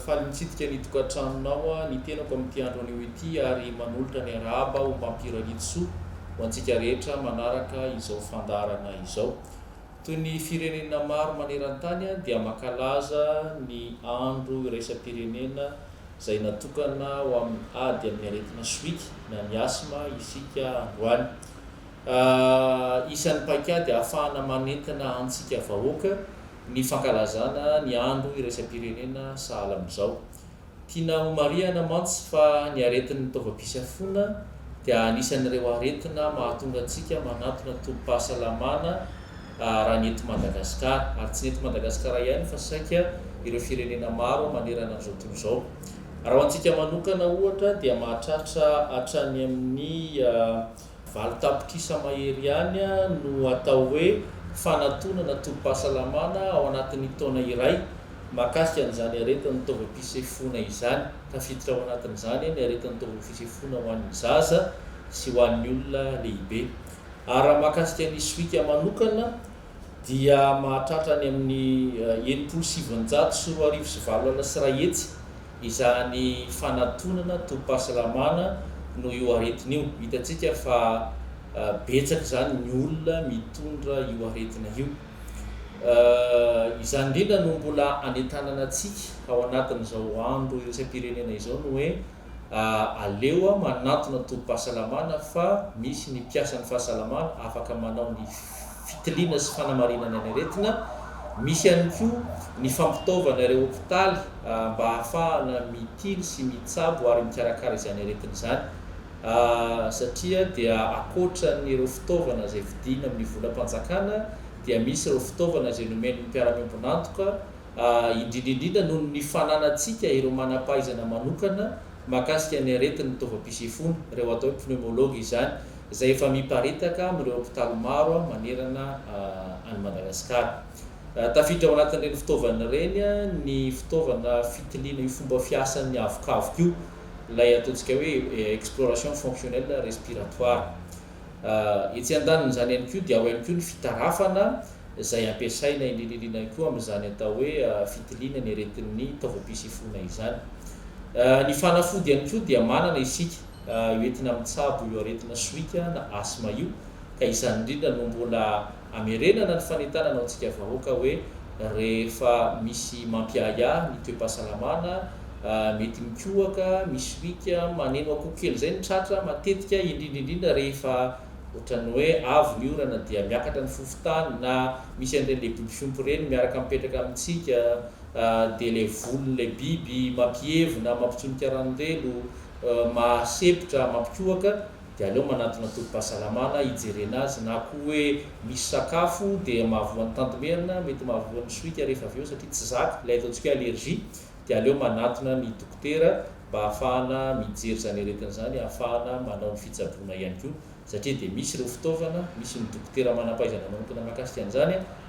Faly mitsidika ny tokantranonao ny tenako amin'ity andro anio ity ary manolotra ny arahaba ho mampioralitsoa ho antsika rehetra manaraka izao fandaharana izao. Toy ny firenena maro maneran-tany dia mankalaza ny andro iraisam-pirenena izay natokana ho amin'ny ady amin'ny aretina sohika na ny asma isika androany. Isan'ny paikady ahafahana manentana antsika vahoaka ny fankalazana ny andro iraisam-pirenena sahala amin'izao. Tiana homarihana mantsy fa ny aretin'ny taovam-pisafoana dia anisan'ireo aretina mahatonga antsika manantona tobim-pahasalamana raha ny eto Madagasikara, ary tsy ny eto Madagasikara ihany fa saika ireo firenena maro manerana an'izao tontolo izao. Raha ho antsika manokana ohatra dia mahatratra hatrany amin'ny. Valo tapitrisa mahery ihany no atao hoe fanatonana tobim-pahasalamana ao anatin'ny taona iray mahakasika an'izany aretin'ny taovam-pisefoana izany. Tafiditra ao anatin'izany ny aretin'ny taovam-pisefoana ho an'ny zaza sy ho an'ny olona lehibe. Ary raha mahakasika ny sohika manokana dia mahatratra any amin'ny enimpolo sy sivinjato sy roa arivo sy valo alina sy iray hetsy izany fanatonana tobim-pahasalamana noho io aretina io. Hitantsika fa betsaka izany ny olona mitondra io aretina io. Izany indrindra no mbola anentanana antsika ao anatin'izao andro iraisam-pirenena izao ny hoe ah aleo ah manantona tobim-pahasalamana fa misy ny mpiasan'ny fahasalamana afaka manao ny fitiliana sy fanamarinana ny aretina, misy ihany koa ny fampitaovana ireo hopitaly ah mba hahafahana mitily sy mitsabo ary mikarakara izany aretina izany ah satria dia akoatran'ireo fitaovana izay vidiana amin'ny volam-panjakana dia misy ireo fitaovana izay nomen'ny mpiara-miombon'antoka indrindra indrindra noho ny fananantsika ireo manam-pahaizana manokana mahakasika ny aretin'ny taovam-pisefoana, ireo atao hoe pneumologue izany, izay efa miparitaka amin'ireo hopitaly maro manerana an'i Madagasikara. Tafiditra ao anatin'ireny fitaovana ireny ny fitaovana fitiliana io fomba fiasan'ny avokavoka io, ilay ataontsika hoe exploration fonctionnelle respiratoire. Etsy an-danin'izany ihany koa dia ao ihany koa ny fitarafana izay ampiasaina eny Lililina ihany koa amin'izany atao hoe fitiliana ny aretin'ny taovam-pisefoana izany. Ny fanafody ihany koa dia manana isika hoentina mitsabo io aretina sohika na asthme io ka izany indrindra no mbola Hamerenana ny fanentanana ho antsika vahoaka hoe rehefa misy mampiahiahy ny toe-pahasalamana, mety mikohaka, misy riaka, maneno akoho kely izay ny tratra, matetika indrindra indrindra rehefa ohatran'ny hoe avy ny orana dia miakatra ny fofontany na misy an'ireny ilay biby fiompy ireny miaraka mipetraka amintsika dia ilay volon'ilay biby mampihevona, mampitsonika rano relo, mahasempotra, mampikohaka. dia aleo manantona tobim-pahasalamana hijerena azy na koa hoe misy sakafo dia mahavoa ny tantimerina, mety mahavoa ny sohika rehefa avy eo satria tsy zaka, ilay ataontsika hoe allergie, dia aleo manantona ny dokotera mba hahafahana mijery izany aretina izany, hahafahana manao ny fitsaboana ihany koa satria dia misy ireo fitaovana, misy ny dokotera manam-pahaizana manokana mahakasika an'izany.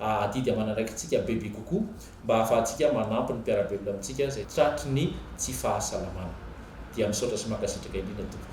adidy aman'andraikitsika bebe kokoa mba hahafahantsika manampy ny mpiara-belona amintsika izay tratry ny tsy fahasalamana dia misaotra sy mankasitraka indrindra tompoko.